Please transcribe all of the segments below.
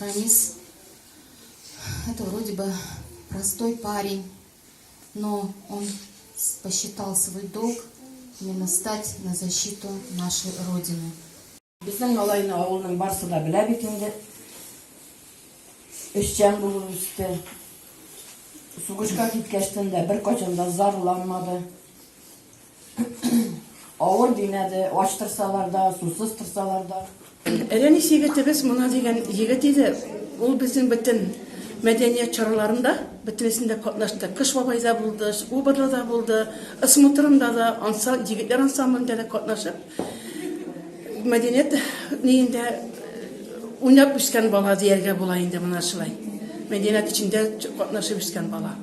Ранис, это вроде бы простой парень, но он посчитал свой долг именно стать на защиту нашей Родины. Безнең малайны авылның барсы да белә бит инде. Эшчән булып үсте. Сугышка киткәчтен дә беркайчан да зарланмады. Авыр димәде, ач торсалар да, сусыз торсалар да. Рәмис егетебез Мона дигән егет иде. Ул безнең бөтен мәдәният чараларында бөтенесендә катнашты. Кыш бабайда булды, Убырлыда булды, Ысмутрында да, ансам, егетләр ансамблендә дә катнашып, Мәдәният ниендә уйнап үскән бала дияргә була инде менә шулай. Мәдәният эчендә катнашып үскән бала.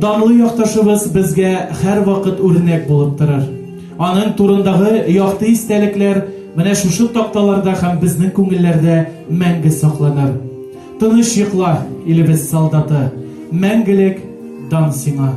данлы якташыбыз безгә һәрвакыт үрнәк булып торыр. Аның турындагы якты истәлекләр менә шушы такталарда һәм безнең күңелләрдә мәңге сакланыр. Тыныч йокла, илебез солдаты, Мәңгелек дан сиңа!